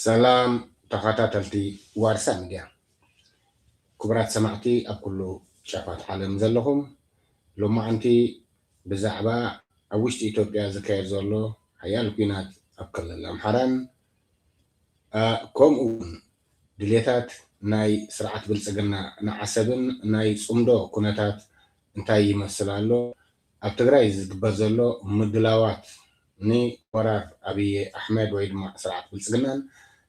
ሰላም ተኻታተልቲ ዋርሳ ሚድያ ክቡራት ሰማዕቲ ኣብ ኩሉ ጫፋት ዓለም ዘለኹም ሎማዓንቲ ብዛዕባ ኣብ ውሽጢ ኢትዮጵያ ዝካየድ ዘሎ ሓያል ኩናት ኣብ ክልል ኣምሓራን ከምኡውን ድሌታት ናይ ስርዓት ብልፅግና ንዓሰብን ናይ ፅምዶ ኩነታት እንታይ ይመስል ኣሎ ኣብ ትግራይ ዝግበር ዘሎ ምድላዋት ንወራር ኣብይ ኣሕመድ ወይ ድማ ስርዓት ብልፅግናን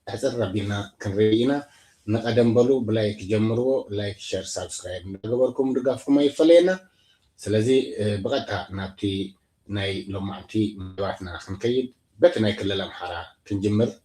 ኣሕፅር ኣቢልና ክንርኢ ኢና። ንቀደም በሉ ብላይክ ጀምርዎ ላይክ ሸር ሳብስክራይብ እንዳገበርኩም ድጋፍኩም ኣይፈለየና። ስለዚ ብቀጥታ ናብቲ ናይ ሎማዕንቲ መደባትና ክንከይድ በቲ ናይ ክልል ኣምሓራ ክንጅምር።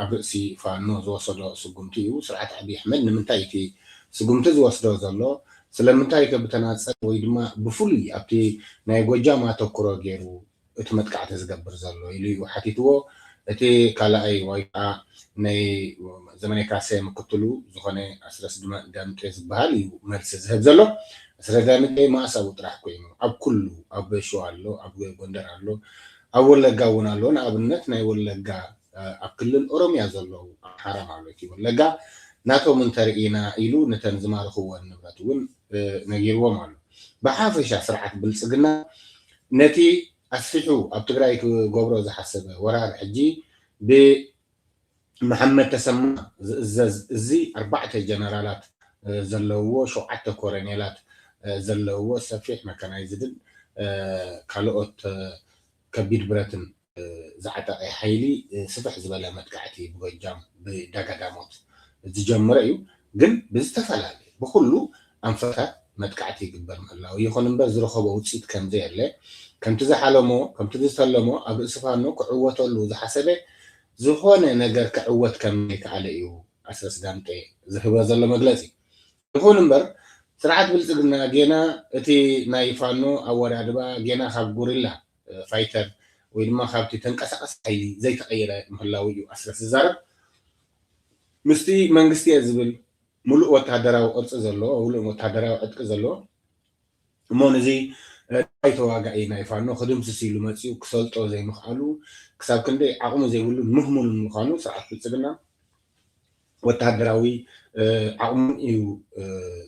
ኣብ ርእሲ ፋኖ ዝወሰዶ ስጉምቲ እዩ። ስርዓት ኣብይ ኣሕመድ ንምንታይ እቲ ስጉምቲ ዝወስዶ ዘሎ? ስለምንታይከ ብተናፀል ወይ ድማ ብፍሉይ ኣብቲ ናይ ጎጃም ኣተኩሮ ገይሩ እቲ መጥቃዕቲ ዝገብር ዘሎ? ኢሉ እዩ ሓቲትዎ። እቲ ካልኣይ ወይ ከዓ ናይ ዘመነ ካሰ ምክትሉ ዝኾነ ኣስረስ ዳምጤ ዝበሃል እዩ መልሲ ዝህብ ዘሎ። ኣስረስ ዳምጤ መኣሳዊ ጥራሕ ኮይኑ ኣብ ኩሉ ኣብ ሸዋ ኣሎ፣ ኣብ ጎንደር ኣሎ፣ ኣብ ወለጋ እውን ኣሎ ንኣብነት ናይ ወለጋ ኣብ ክልል ኦሮምያ ዘለዉ ኣምሓራ ማለት እዩ ወለጋ ናቶም እንተርኢና ኢሉ ንተን ዝማርኽወን ንብረት እውን ነጊርዎም ኣሎ ብሓፈሻ ስርዓት ብልፅግና ነቲ ኣስፊሑ ኣብ ትግራይ ክገብሮ ዝሓሰበ ወራር ሕጂ ብ መሓመድ ተሰማ ዝእዘዝ እዚ ኣርባዕተ ጀነራላት ዘለውዎ ሸውዓተ ኮረኔላት ዘለውዎ ሰፊሕ መካናይዝድን ካልኦት ከቢድ ብረትን ዝዓጠቐ ሓይሊ ስፍሕ ዝበለ መጥቃዕቲ ብጎጃም ብዳጋዳሞት ዝጀመረ እዩ ግን ብዝተፈላለየ ብኹሉ ኣንፈታት መጥቃዕቲ ይግበር ምህላዉ፣ ይኹን እምበር ዝረኸቦ ውጽኢት ከምዘየለ፣ ከምቲ ዝሓለሞ ከምቲ ዝተለሞ ኣብ ርእሲ ፋኖ ክዕወተሉ ዝሓሰበ ዝኾነ ነገር ክዕወት ከምዘይከኣለ እዩ ኣስረስ ዳምጤ ዝህበ ዘሎ መግለጺ። ይኹን እምበር ስርዓት ብልጽግና ጌና እቲ ናይ ፋኖ ኣወዳድባ ጌና ካብ ጉሪላ ፋይተር ወይ ድማ ካብቲ ተንቀሳቓሲ ሓይሊ ዘይተቐይረ ምህላዉ እዩ ኣስረስ ዝዛረብ። ምስቲ መንግስቲ'የ ዝብል ምሉእ ወተሃደራዊ ቅርጺ ዘለዎ፣ ምሉእ ወተሃደራዊ ዕጥቂ ዘለዎ እሞ ንዚ ዳይ ተዋጋኢ ናይ ፋኖ ክድምስስ ኢሉ መጺኡ ክሰልጦ ዘይምኽኣሉ ክሳብ ክንደይ ዓቕሚ ዘይብሉን ምህሙንን ምዃኑ ስርዓት ብልጽግና ወተሃደራዊ ዓቕሙን እዩ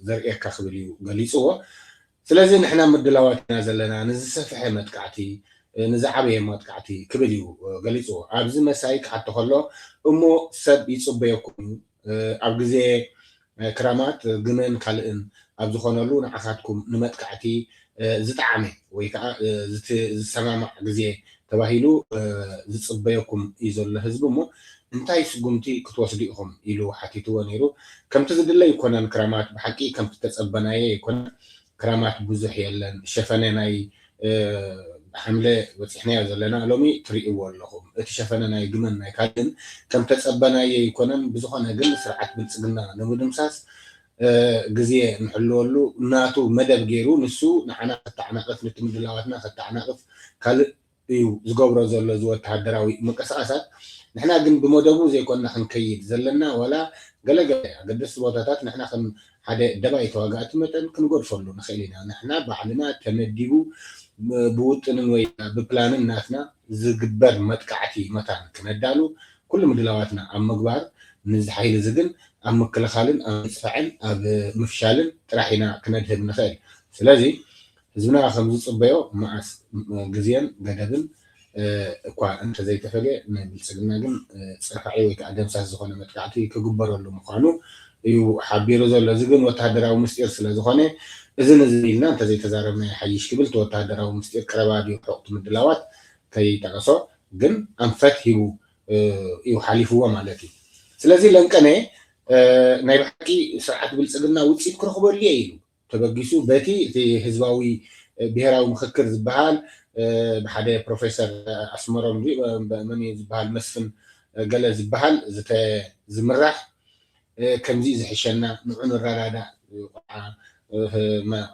ዘርእየካ ክብል እዩ ገሊጽዎ። ስለዚ ንሕና ምድላዋት ኢና ዘለና ንዝሰፈሐ መጥቃዕቲ፣ ንዝዓበየ ማጥቃዕቲ ክብል እዩ ገሊጽዎ። ኣብዚ መሳይ ክሓቶ ከሎ እሞ ሰብ ይጽበየኩም እዩ፣ ኣብ ግዜ ክራማት ግመን ካልእን ኣብ ዝኾነሉ ንዓኻትኩም ንመጥቃዕቲ ዝጠዓመ ወይ ከኣ ዝሰማማዕ ግዜ ተባሂሉ ዝጽበየኩም እዩ ዘሎ ህዝቢ እሞ እንታይ ስጉምቲ ክትወስዱ ኢኹም ኢሉ ሓቲትዎ ነይሩ። ከምቲ ዝድለ ኣይኮነን ክራማት ብሓቂ ከምቲ ዝተጸበናዮ ኣይኮነን ክራማት ብዙሕ የለን ሸፈነ ናይ ሓምለ በጺሕናዮ ዘለና ሎሚ ትሪእዎ ኣለኹም እቲ ሸፈነ ናይ ግመን ናይ ካልእን ከም ተጸበናዮ ኣይኮነን ብዝኾነ ግን ስርዓት ብልጽግና ንምድምሳስ ግዜ ንሕልወሉ ናቱ መደብ ጌሩ ንሱ ንዓና ከተዓናቕፍ ንቲ ምድላዋትና ከተዓናቕፍ ካልእ እዩ ዝገብሮ ዘሎ እዚ ወተሃደራዊ ምንቅስቃሳት ንሕና ግን ብመደቡ ዘይኮና ክንከይድ ዘለና ዋላ ገለ ገለ ኣገደስቲ ቦታታት ንሕና ከም ሓደ ደባይ ተዋጋእቲ መጠን ክንገድፈሉ ንክእል ኢና ንሕና ባዕልና ተመዲቡ ብውጥንን ወይ ብፕላንን ናትና ዝግበር መጥቃዕቲ መታን ክነዳሉ ኩሉ ምድላዋትና ኣብ ምግባር ንዚ ሓይሊ እዚ ግን ኣብ ምክልኻልን ኣብ ምጽፋዕን ኣብ ምፍሻልን ጥራሕ ኢና ክነድህብ ንክእል ስለዚ ህዝብና ከምዝፅበዮ መኣስ ግዜን ገደብን እኳ እንተዘይተፈልየ ንብልፅግና ግን ፅርፋዒ ወይ ከዓ ደምሳስ ዝኾነ መጥቃዕቲ ክግበረሉ ምዃኑ እዩ ሓቢሩ ዘሎ። እዚ ግን ወታደራዊ ምስጢር ስለዝኾነ እዝን እዝን ኢልና እንተዘይተዛረብናዮ ይሓይሽ ክብል እቲ ወታደራዊ ምስጢር ቀረባ ድዩ ርሑቕ እቲ ምድላዋት ከይጠቐሶ ግን ኣንፈት ሂቡ እዩ ሓሊፍዎ ማለት እዩ። ስለዚ ለንቀነ ናይ ብሓቂ ስርዓት ብልፅግና ውፅኢት ክረኽበሉ እየ ኢሉ። ተበጊሱ በቲ እቲ ህዝባዊ ብሄራዊ ምኽክር ዝበሃል ብሓደ ፕሮፌሰር ኣስመሮም ድዩ መን እዩ ዝበሃል መስፍን ገለ ዝበሃል ዝምራሕ ከምዚ እዩ ዝሕሸና ንዑ ንረዳዳእ ቆልዓ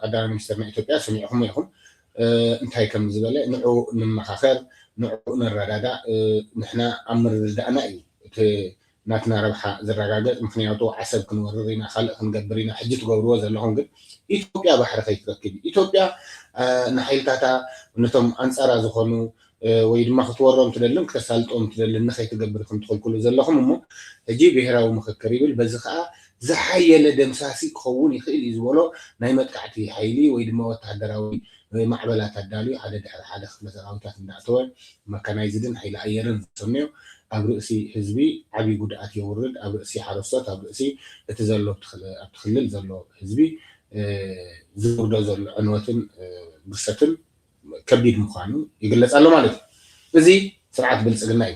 ቀዳማይ ሚኒስተር ናይ ኢትዮጵያ ሰሚዕኹሞ ኢኹም እንታይ ከም ዝበለ ንዑ ንመኻኸር ንዑ ንረዳዳእ ንሕና ኣብ ምርድዳእና እዩ እቲ ናትና ረብሓ ዝራጋገጽ ምኽንያቱ ዓሰብ ክንወርር ኢና ካልእ ክንገብር ኢና ሕጂ ትገብርዎ ዘለኹም ግን ኢትዮጵያ ባሕሪ ከይትረክብ እዩ ኢትዮጵያ ንሓይልታታ ነቶም ኣንጻራ ዝኾኑ ወይ ድማ ክትወሮም ትደልን ክተሳልጦም ትደልን ንኸይትገብር ኢኹም ትኽልክሉ ዘለኹም እሞ ሕጂ ብሄራዊ ምኽክር ይብል በዚ ከኣ ዝሓየለ ደምሳሲ ክኸውን ይኽእል እዩ ዝበሎ ናይ መጥቃዕቲ ሓይሊ ወይ ድማ ወተሃደራዊ ማዕበላት ኣዳልዩ ሓደ ድሕሪ ሓደ ክፍለ ሰራዊታት እንዳእተወ መካናይዝድን ሓይሊ ኣየርን ዘሰንዮ ኣብ ርእሲ ህዝቢ ዓብይ ጉድኣት የውርድ ኣብ ርእሲ ሓረስቶት ኣብ ርእሲ እቲ ዘሎ ኣብቲ ክልል ዘሎ ህዝቢ ዘውርዶ ዘሎ ዕንወትን ብርሰትን ከቢድ ምዃኑ ይግለጽ ኣሎ ማለት እዩ እዚ ስርዓት ብልጽግና እዩ።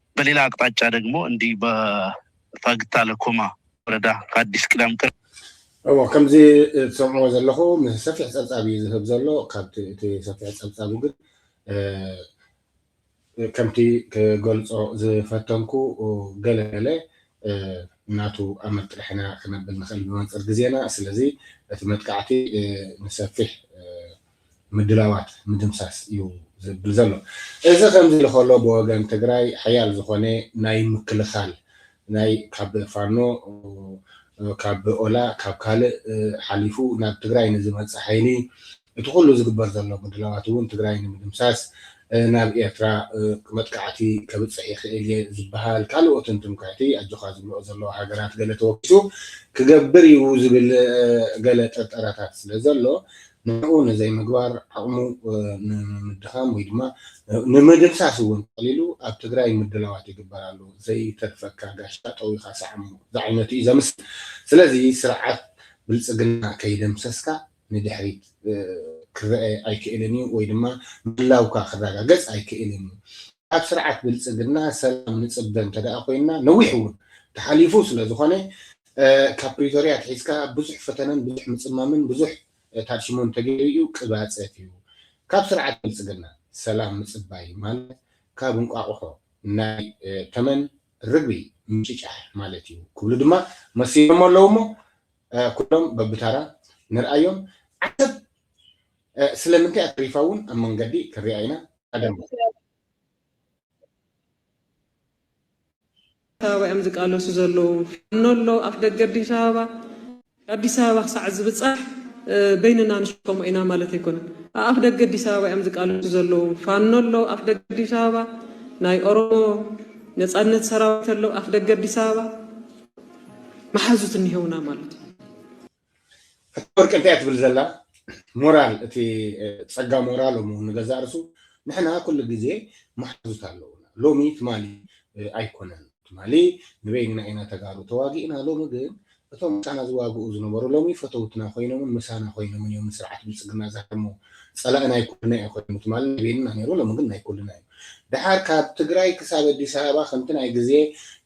በሌላ ኣቅጣጫ ደግሞ እንዲህ በፋግታ ለኮማ ወረዳ ከአዲስ ቅዳም ቅር እዎ ከምዚ ትሰምዕዎ ዘለኹ ምስ ሰፊሕ ጸብጻብ እዩ ዝህብ ዘሎ ካብቲ እቲ ሰፊሕ ጸብጻቡ ግን ከምቲ ክገልጾ ዝፈተንኩ ገለ ገለ ናቱ ኣመት ጥርሕና ክነብል ንኽእል ብመንጽር ግዜና ስለዚ እቲ መጥቃዕቲ ንሰፊሕ ምድላዋት ምድምሳስ እዩ ዝብል ዘሎ። እዚ ከምዚ ኢሉ ከሎ ብወገን ትግራይ ሓያል ዝኾነ ናይ ምክልኻል ናይ ካብ ፋኖ ካብ ኦላ ካብ ካልእ ሓሊፉ ናብ ትግራይ ንዝመፅእ ሓይሊ እቲ ኩሉ ዝግበር ዘሎ ምድላዋት እውን ትግራይ ንምድምሳስ ናብ ኤርትራ መጥቃዕቲ ከብፅሕ ይኽእል እየ ዝበሃል ካልኦትን ትምክሕቲ ኣጆኻ ዝብልኦ ዘለዋ ሃገራት ገለ ተወኪሱ ክገብር እዩ ዝብል ገለ ጥርጠራታት ስለ ዘሎ ንዕኡ ንዘይምግባር ዓቕሙ ንምድኻም ወይ ድማ ንምድምሳስ እውን ጠቕሊሉ ኣብ ትግራይ ምድላዋት ይግበር ኣሎ። ዘይተርፈካ ጋሻ ጠዊኻ ሰዓሞ ዝዓይነቱ እዩ ዘምስል። ስለዚ ስርዓት ብልፅግና ከይደምሰስካ ንድሕሪት ክረኣ ኣይክእልን እዩ ወይ ድማ ምህላውካ ክረጋገፅ ኣይክእልን እዩ። ካብ ስርዓት ብልፅግና ሰላም ንፅበ እንተድኣ ኮይንና ነዊሕ እውን ተሓሊፉ ስለዝኾነ ካብ ፕሪቶርያ ኣትሒዝካ ብዙሕ ፈተነን ብዙሕ ምጽማምን ብዙሕ ታድሽሞን ተገይሩ እዩ ቅባጸት እዩ ካብ ስርዓት ብልጽግና ሰላም ምጽባይ ማለት ካብ እንቋቑሖ ናይ ተመን ርግቢ ምጭጫሕ ማለት እዩ ክብሉ ድማ መሲሎሞ ኣለዉ እሞ ኩሎም በብታራ ንርኣዮም ዓሰብ ስለምንታይ እያ ተሪፋ እውን ኣብ መንገዲ ክንሪኣ ኢና ቀደም ኣበባ እዮም ዝቃለሱ ዘለዉ። ፋኖ ኣሎ ኣፍ ደገ ኣዲስ ኣበባ። ኣዲስ ኣበባ ክሳዕ ዝብጻሕ በይንና ንሽከሞ ኢና ማለት ኣይኮነን። ኣኣፍ ደገ ኣዲስ ኣበባ እዮም ዝቃለሱ ዘለዉ። ፋኖ ኣሎ ኣፍ ደገ ኣዲስ ኣበባ። ናይ ኦሮሞ ነጻነት ሰራዊት ኣሎ ኣፍ ደገ ኣዲስ ኣበባ። መሓዙት እኒሀውና ማለት እዩ። ወርቂ እንታይ ትብል ዘላ ሞራል እቲ ጸጋ ሞራል እሞ ንገዛ ርሱ ንሕና ኩሉ ግዜ መሓዙት ኣለውና ሎሚ ትማሊ ኣይኮነን ትማሊ ንበይንና ኢና ተጋሩ ተዋጊእና ሎሚ ግን እቶም ምሳና ዝዋግኡ ዝነበሩ ሎሚ ፈተውትና ኮይኖምን ምሳና ኮይኖምን እዮም ንስርዓት ብልፅግና ዝሃድሙ ፀላእ ናይ ኩልና እዩ ኮይኑ ትማሊ ናይ በይንና ነይሩ ሎሚ ግን ናይ ኩልና እዩ ድሓር ካብ ትግራይ ክሳብ ኣዲስ ኣበባ ከምቲ ናይ ግዜ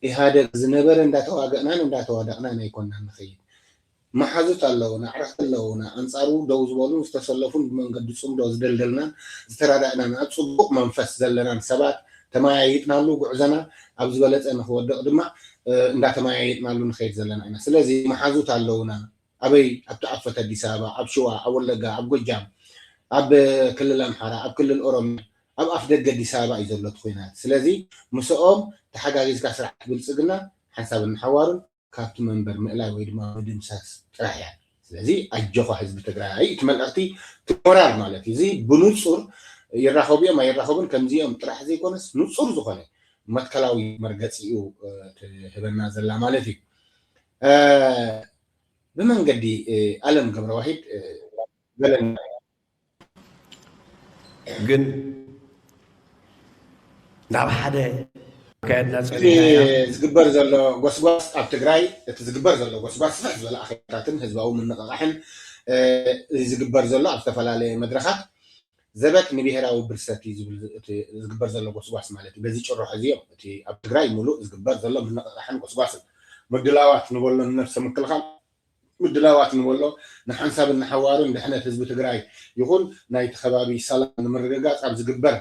ኢህኣደግ ዝነበረ እንዳተዋገእናን እንዳተዋደቕናን ኣይኮናን ንኸይድ መሓዙት ኣለዉና፣ ኣዕርኽቲ ኣለዉና፣ ኣንጻሩ ደው ዝበሉን ዝተሰለፉን ብመንገዲ ጽምዶ ዝደልደልናን ዝተራዳእናን ኣብ ጽቡቕ መንፈስ ዘለናን ሰባት ተመያይጥናሉ ጉዕዘና ኣብ ዝበለጸ ንኽወድቕ ድማ እንዳተመያየጥናሉ ንኸይድ ዘለና ኢና። ስለዚ መሓዙት ኣለዉና፣ ኣበይ ኣብቲ ኣብ ፈት ኣዲስ ኣበባ፣ ኣብ ሽዋ፣ ኣብ ወለጋ፣ ኣብ ጎጃም፣ ኣብ ክልል ኣምሓራ፣ ኣብ ክልል ኦሮምያ፣ ኣብ ኣፍ ደገ ኣዲስ ኣበባ እዩ ዘሎ እቲ ኹናት። ስለዚ ምስኦም ተሓጋጊዝካ ስርዓት ብልጽግና ሓንሳብን ንሓዋሩን። ካብቲ መንበር ምእላይ ወይ ድማ ምድምሳስ ጥራሕ እያ ስለዚ ኣጆኻ ህዝቢ ትግራይ እቲ መልእኽቲ እቲ ሞራል ማለት እዩ እዚ ብኑጹር ይራኸቡ እዮም ኣይራኸቡን ከምዚ እዮም ጥራሕ ዘይኮነስ ኑጹር ዝኾነ መትከላዊ መርገጺ እዩ ትህበና ዘላ ማለት እዩ ብመንገዲ ኣለም ገብረዋሂድ ገለና ግን ናብ ሓደ ኣካየድና ጸኒሕናያ እቲ ዝግበር ዘሎ ጎስጓስ ኣብ ትግራይ እቲ ዝግበር ዘሎ ጎስጓስ ስፍሕ ዝበለ ኣኼባታትን ህዝባዊ ምንቕቓሕን ዝግበር ዘሎ ኣብ ዝተፈላለየ መድረኻት ዘበት ንብሄራዊ ብርሰት እዩ ዝብል እቲ ዝግበር ዘሎ ጎስጓስ ማለት እዩ። በዚ ጭርሖ እዚ እዮም እቲ ኣብ ትግራይ ምሉእ ዝግበር ዘሎ ምንቕቓሕን ጎስጓስን ምድላዋት ንበሎ ንነብሰ ምክልኻል ምድላዋት ንበሎ ንሓንሳብን ንሓዋሩን ድሕነት ህዝቢ ትግራይ ይኹን ናይቲ ከባቢ ሰላም ንምርግጋፅ ኣብ ዝግበር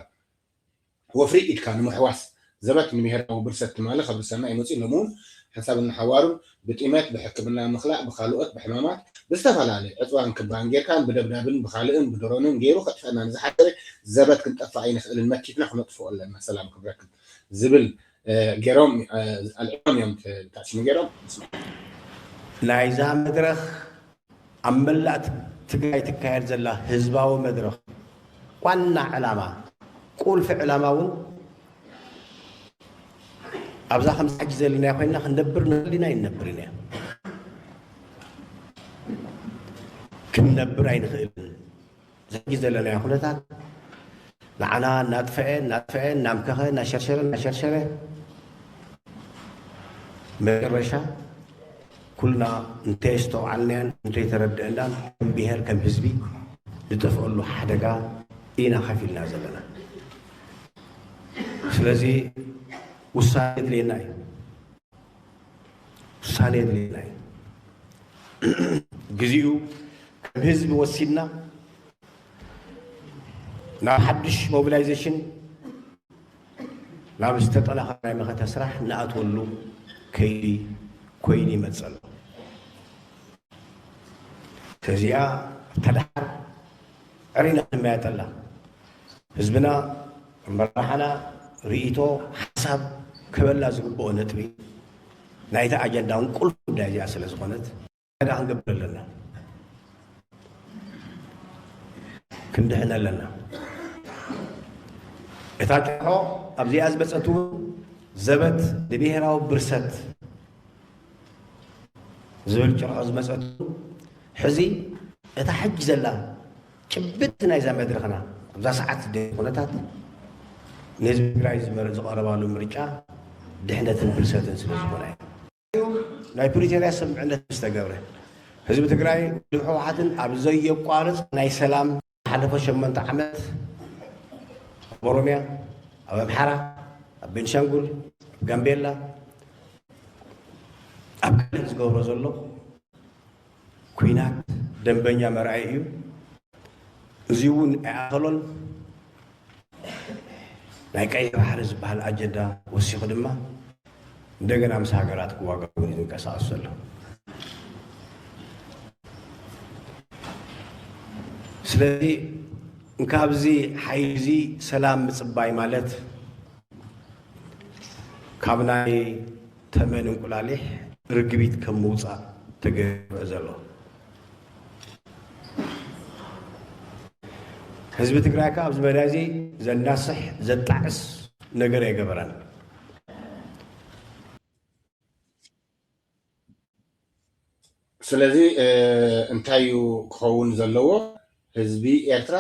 ወፍሪ ኢድካ ንምሕዋስ ዘበት ንብሄራዊ ብርሰት ትማሊ ከብርሰና እዩ መፂኡ ሎሚ እውን ሓንሳብን ንሓዋሩን ብጢመት ብሕክምና ምኽላእ ብኻልኦት ብሕማማት ብዝተፈላለዩ ዕፅዋን ክባን ጌርካን ብደብዳብን ብኻልእን ብድሮንን ገይሩ ከጥፍአና ንዝሓሰበ ዘበት ክንጠፍእ ኣይንኽእልን መኪትና ክነጥፍኦ ኣለና ሰላም ክብረክን ዝብል ናይዛ መድረኽ ኣብ መላእ ትግራይ ትካየድ ዘላ ህዝባዊ መድረኽ ዋና ዕላማ ቁልፊ ዕላማ እውን ኣብዛ ከምዚ ሕጂ ዘለና ኮይና ክንነብር ንኽእል ኢና ይነብር ኢና ክንነብር ኣይንኽእልን ኣብዚ ሕጂ ዘለናዮ ኩነታት ንዓና እናጥፈኤ እናጥፈኤ እናምከኸ እናሸርሸረ እናሸርሸረ መጨረሻ ኩልና እንተየስተውዓልናዮን እንተይተረደእናን ከም ብሄር ከም ህዝቢ ንጠፍኣሉ ሓደጋ ኢና ከፍ ኢልና ዘለና። ስለዚ ውሳኔ የድልየና እዩ። ውሳኔ የድልየና እዩ። ግዚኡ ከም ህዝቢ ወሲድና ናብ ሓድሽ ሞቢላይዜሽን ናብ ዝተጠናኸረ ናይ መኸተ ስራሕ ንኣትወሉ ከይዲ ኮይኑ ይመፅ ኣሎ ተዚኣ ተደሓር ዕሪና ክንመያጠላ ህዝብና መራሕና ርኢቶ ሓሳብ ክህበላ ዝግብኦ ነጥቢ ናይታ ኣጀንዳውን ቁልፍ ጉዳይ እዚኣ ስለ ዝኾነት ዕዳጋ ክንገብር ኣለና። ክንድሕን ኣለና። እታ ጭርሖ ኣብዚኣ ዝበፀት እውን ዘበት ንብሄራዊ ብርሰት ዝብል ጭርሖ ዝመፀት ሕዚ እታ ሕጂ ዘላ ጭብጢ ናይዛ መድረኽና ኣብዛ ሰዓት ዝደልዩ ኩነታት ንህዝቢ ትግራይ ዝቐረባሉ ምርጫ ድሕነትን ፍልሰትን ስለ ዝኾነ እዩ። ናይ ፕሪቶርያ ስምምዕነት ምስ ተገብረ ህዝቢ ትግራይ ውድብ ህወሓትን ኣብ ዘየቋርፅ ናይ ሰላም ዝሓለፈ ሸሞንተ ዓመት ኣብ ኦሮሚያ፣ ኣብ ኣምሓራ፣ ኣብ ቤንሻንጉል፣ ኣብ ጋምቤላ ኣብ ካልእ ዝገብሮ ዘሎ ኩናት ደምበኛ መርኣይ እዩ። እዙይ እውን ኣይኣኸሎን። ናይ ቀይሕ ባሕሪ ዝበሃል ኣጀንዳ ወሲኹ ድማ እንደገና ምስ ሃገራት ክዋጋእ እውን ዝንቀሳቐስ ዘሎ። ስለዚ ካብዚ ሓይሊ እዚ ሰላም ምፅባይ ማለት ካብ ናይ ተመን እንቁላሊሕ ርግቢት ከም ምውፃእ ተገይሩ ዘሎ ህዝቢ ትግራይ ከዓ ኣብዚ መዳይ እዚ ዘናስሕ ዘጣዕስ ነገር ኣይገበረን። ስለዚ እንታይ እዩ ክኸውን ዘለዎ ህዝቢ ኤርትራ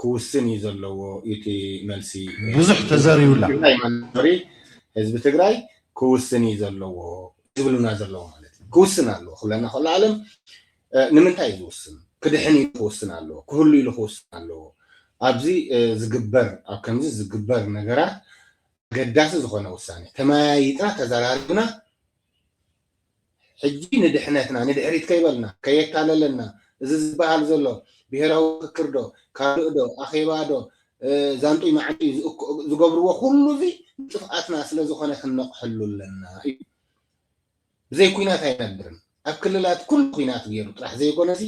ክውስን እዩ ዘለዎ እዩ እቲ መልሲ ብዙሕ ተዘሪብላ ትግራይ መንበሪ ህዝቢ ትግራይ ክውስን እዩ ዘለዎ ዝብሉና ዘለዎ ማለት እዩ ክውስን ኣለዎ ክብለና ከሎ ኣለም ንምንታይ እዩ ዝውስን ክድሕን ኢሉ ክውስን ኣለዎ ክህሉ ኢሉ ክውስን ኣለዎ ኣብዚ ዝግበር ኣብ ከምዚ ዝግበር ነገራት ኣገዳሲ ዝኾነ ውሳኔ ተመያይጥና ተዘራሪብና ሕጂ ንድሕነትና ንድሕሪት ከይበልና ከየታለለና እዚ ዝበሃል ዘሎ ብሄራዊ ምኽክር ዶ ካልእ ዶ ኣኼባ ዶ ዛንጡይ ማዕንጡይ ዝገብርዎ ኩሉ እዚ ንጥፍኣትና ስለ ዝኾነ ክንነቕሐሉ ኣለና እዩ። ብዘይ ኩናት ኣይነብርን ኣብ ክልላት ኩሉ ኩናት ጌሩ ጥራሕ ዘይኮነሲ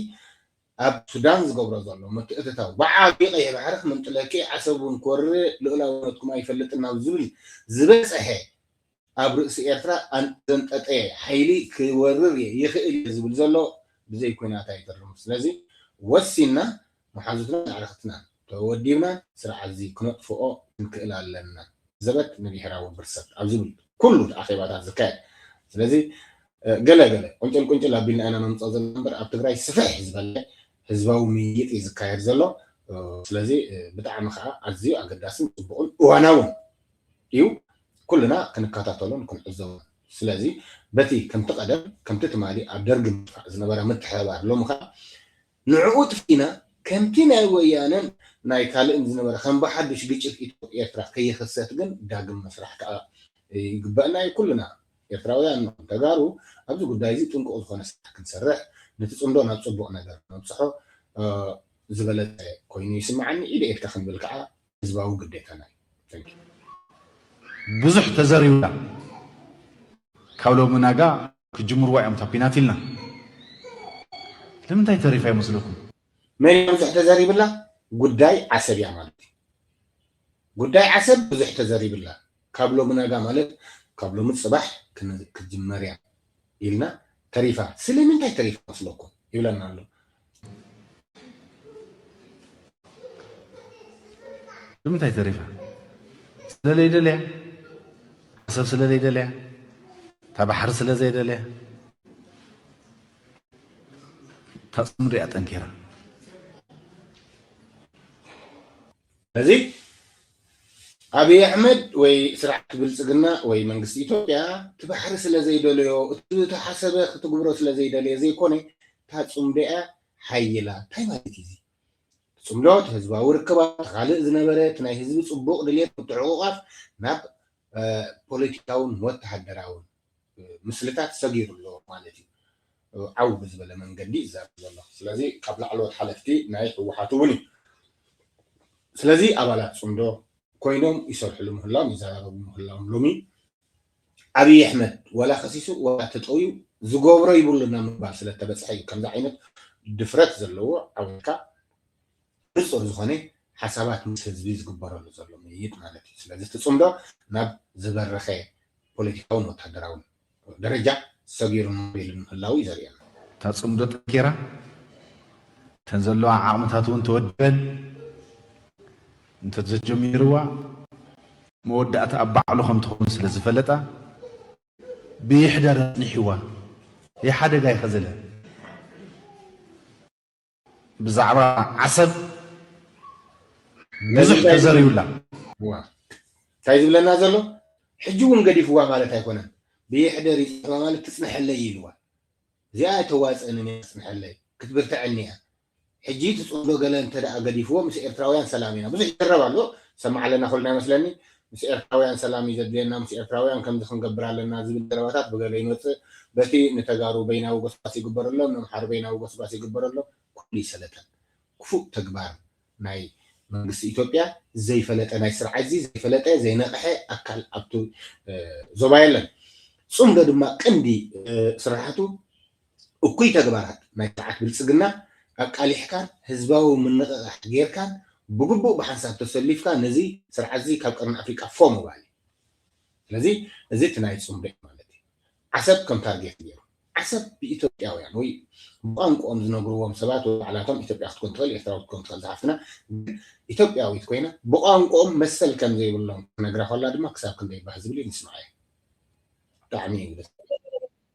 ኣብ ሱዳን ዝገብሮ ዘሎ ምትእትታው ብዓብዩ ቀይሕ ባሕሪ ክምንጥለኪ ዓሰብ ውን ክወርር ልኡላውነትኩም ኣይፈልጥን ናብ ዝብል ዝበጸሐ ኣብ ርእሲ ኤርትራ ኣንዘንጠጠየ ሓይሊ ክወርር እየ ይኽእል እየ ዝብል ዘሎ ብዘይ ኩናት ኣይተርፍን ስለዚ ወሲንና መሓዙትናን ኣዕርኽትናን ተወዲብና ስርዓትዚ ክነጥፍኦ ክንክእል ኣለና ዘበት ንብሔራዊ ብርሰት ኣብ ዝብል ኩሉ ኣኼባታት ዝካየድ ስለዚ ገለ ገለ ቁንጭል ቁንጭል ኣቢልና ኢና ነምጾ ዘለና እምበር ኣብ ትግራይ ስፍሕ ዝበለ ህዝባዊ ምይይጥ እዩ ዝካየድ ዘሎ ስለዚ ብጣዕሚ ከዓ ኣዝዩ ኣገዳስን ፅቡቕን እዋናውን እዩ ኩልና ክንከታተሎን ክንዕዘቦን ስለዚ በቲ ከምቲ ቀደም ከምቲ ትማሊ ኣብ ደርጊ ምጥፋእ ዝነበረ ምትሕብባር ሎሚ ከኣ ንዕኡ ጥፊእና ከምቲ ናይ ወያነን ናይ ካልእን ዝነበረ ከም ብሓዱሽ ግጭት ኢትዮ ኤርትራ ከይኽሰት ግን ዳግም ምስራሕ ከኣ ይግበእና እዩ ኩልና ኤርትራውያን ንኹን ተጋሩ ኣብዚ ጉዳይ እዚ ጥንቁቕ ዝኾነ ስራሕ ክንሰርሕ ነቲ ጽምዶ ናብ ጽቡቕ ነገር ነብጽሖ ዝበለጸ ኮይኑ ይስምዓኒ ኢደ ኢድካ ክንብል ከኣ ህዝባዊ ግዴታና እዩ። Thank you። ብዙሕ ተዘሪብና ካብ ሎሚ ናጋ ክጅምርዎ እዮም እታ ኲናት ኢልና ንምንታይ ተሪፋ ይመስለኩም? መን እያ ብዙሕ ተዘሪብላ? ጉዳይ ዓሰብ እያ ማለት እዩ። ጉዳይ ዓሰብ ብዙሕ ተዘሪብላ ካብ ሎሚ ናጋ ማለት ካብ ሎሚ ፅባሕ ክን- ክትጅመር እያ። ኢልና ተሪፋ ስልምንታይ ተሪፋ መስለኩም ይብለና ኣሎ። ንምንታይ ተሪፋ ስለ ለይደልያ ዓሰብ ስለ ለይደልያ እታ ባሕሪ ስለ ዘይደልያ እታ ጽምዶ እያ ጠንኪራ ስለዚ ኣብይ ኣሕመድ ወይ ስርዓት ብልፅግና ወይ መንግስቲ ኢትዮጵያ እቲ ባሕሪ ስለዘይደለዮ እቲ ዝተሓሰበ ክትግብሮ ስለዘይደለየ ዘይኮነ እታ ፅምዶ'ያ ሓይላ እንታይ ማለት እዩ እዚ ፅምዶ እቲ ህዝባዊ ርክባት እቲ ካልእ ዝነበረ እቲ ናይ ህዝቢ ፅቡቕ ድልየት ምትዕቑቛፍ ናብ ፖለቲካውን ወተሃደራውን ምስልታት ሰጊሩ ኣሎ ማለት እዩ ዓው ብዝበለ መንገዲ እዩ ዝዛረብ ዘሎ ስለዚ ካብ ላዕለዎት ሓለፍቲ ናይ ህወሓት እውን እዩ ስለዚ ኣባላት ፅምዶ ኮይኖም ይሰርሕሉ ምህላዎም ይዘራረቡ ምህላዎም ሎሚ ኣብይ ኣሕመድ ዋላ ከሲሱ ዋላ ተጠውዩ ዝገብሮ ይብሉና ምባል ስለተበፅሐ እዩ ከምዚ ዓይነት ድፍረት ዘለዎ ዓወትካ ንጹር ዝኾነ ሓሳባት ምስ ህዝቢ ዝግበረሉ ዘሎ ምይይጥ ማለት እዩ። ስለዚ እቲ ጽምዶ ናብ ዝበረኸ ፖለቲካውን ወታደራውን ደረጃ ሰጊሩ ማዕቢሉ ንምህላዉ እዩ ዘርእየና። እታ ጽምዶ ጠንኪራ፣ እተን ዘለዋ ዓቕምታት እውን ተወዲበን እንተ ዘጀሚርዋ መወዳእታ ኣብ ባዕሉ ከም ትኸውን ስለ ዝፈለጣ ብይሕደር ኣጽኒሕዋ። ይሓደጋ ይኸዘለ። ብዛዕባ ዓሰብ ብዙሕ ተዘርዩላ። እንታይ ዝብለና ዘሎ ሕጂ እውን ገዲፍዋ ማለት ኣይኮነን ብየሕደር እዩ ዝጽሕፋ ማለት ትጽንሐለይ እዩ ኢልዋ እዚኣ ኣይተዋጽእንን እያ ትጽንሐለይ ክትብርትዐኒ እያ ሕጂ እቲ ጽምዶ ገለ እንተ ገዲፍዎ ምስ ኤርትራውያን ሰላም ኢና ብዙሕ ይዝረብ ኣሎ ሰማዕ ኣለና ኩልና ይመስለኒ ምስ ኤርትራውያን ሰላም እዩ ዘድልየና፣ ምስ ኤርትራውያን ከምዚ ክንገብር ኣለና ዝብል ዘረባታት ብገለ ይመጽእ፣ በቲ ንተጋሩ በይናዊ ጎስጓስ ይግበረሎም፣ ነምሓሩ በይናዊ ጎስጓስ ይግበረሎም፣ ኩሉ ይሰለጠን። ክፉእ ተግባር ናይ መንግስቲ ኢትዮጵያ ዘይፈለጠ ናይ ስርዓትዚ ዘይፈለጠ ዘይነቕሐ ኣካል ኣብቲ ዞባ የለን። ጽምዶ ድማ ቀንዲ ስራሓቱ፣ እኩይ ተግባራት ናይ ስርዓት ብልጽግና ኣቃሊሕካን ህዝባዊ ምንቕቓሕ ጌርካን ብግቡእ ብሓንሳብ ተሰሊፍካ ነዚ ስርዓትዚ ካብ ቀርኒ ኣፍሪቃ ፎእ ምባል እዩ። ስለዚ እዚ እቲ ናይ ጽምዶ ማለት እዩ። ዓሰብ ከም ታርጌት ጌሩ። ዓሰብ ብኢትዮጵያውያን ወይ ብቋንቁኦም ዝነግርዎም ሰባት ወይ ባዕላቶም ኢትዮጵያ ክትኮን ትኽእል ኤርትራዊት ክትኮን ትኽእል ዝሓፍትና ግን ኢትዮጵያዊት ኮይና ብቋንቁኦም መሰል ከም ዘይብሎም ክትነግራ ኮላ ድማ ክሳብ ክንደይ ባህ ዝብል እዩ ንስምዓዮ ብጣዕሚ እዩ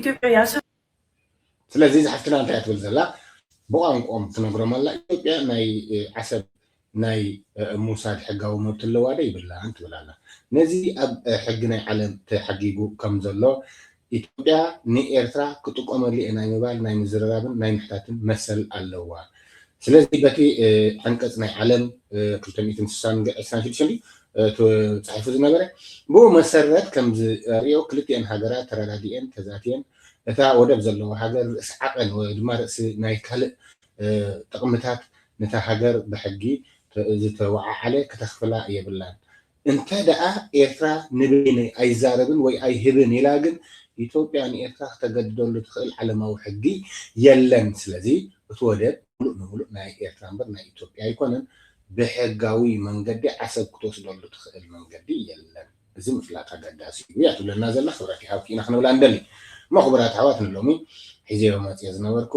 ኢትዮጵያ ያሰ ስለዚ እዛ ሓፍትና እንታይ እያ ትብል ዘላ ብቋንቆኦም ትነግሮም ኣላ ኢትዮጵያ ናይ ዓሰብ ናይ ምውሳድ ሕጋዊ መብቲ ኣለዋ ዶ ይብላን ትብል ኣላ ነዚ ኣብ ሕጊ ናይ ዓለም ተሓጊጉ ከም ዘሎ ኢትዮጵያ ንኤርትራ ክጥቀመሉ እየ ናይ ምባል ናይ ምዝርራብን ናይ ምሕታትን መሰል ኣለዋ ስለዚ በቲ ዓንቀጽ ናይ ዓለም ክልተ ሚእትን ስሳን ዕስራን ሽዱሽተን ድዩ ተጻሒፉ ዝነበረ ብኡ መሰረት ከም ዝርእዮ ክልቲኤን ሃገራት ተረዳዲኤን ተዛትየን እታ ወደብ ዘለዋ ሃገር ርእሲ ዓቐን ወይ ድማ ርእሲ ናይ ካልእ ጥቕምታት ነታ ሃገር ብሕጊ ዝተወዓዓለ ክተኽፍላ የብላን እንተ ደኣ ኤርትራ ንበይነይ ኣይዛረብን ወይ ኣይህብን ኢላ ግን ኢትዮጵያ ንኤርትራ ክተገድደሉ ትኽእል ዓለማዊ ሕጊ የለን። ስለዚ እቲ ወደብ ምሉእ ንምሉእ ናይ ኤርትራ እምበር ናይ ኢትዮጵያ ኣይኮነን። ብሕጋዊ መንገዲ ዓሰብ ክትወስደሉ ትኽእል መንገዲ የለን። እዚ ምፍላጥ ኣገዳሲ እዩ እያ ትብለና ዘላ። ክብረት ይሃብኪ ኢና ክንብላ ንደሊ። እሞ ክቡራት ኣሕዋት ንሎሚ ሒዘዮ መጺኤ ዝነበርኩ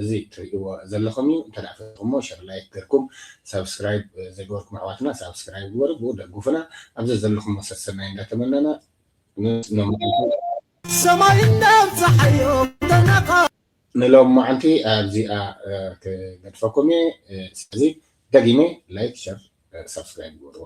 እዚ ትርእይዎ ዘለኹም እዩ። እንተ ፈቲኹሞ ሸር ላይክ ገርኩም ሳብስክራይብ ዘይገበርኩም ኣሕዋትና ሳብስክራይብ ግበሩ ብኡ ደጉፉና ኣብ ዘዘለኹም መሰል ሰናይ እንዳተመነና ምስ ሎምዓንቲ ሰማይ እንዳብፀሓዮ ተነቃ። ንሎምዓንቲ ኣብዚኣ ክገድፈኩም እየ ስለዚ ደጊመ ላይክ ሸር ሳብስክራይብ ግበርዎ።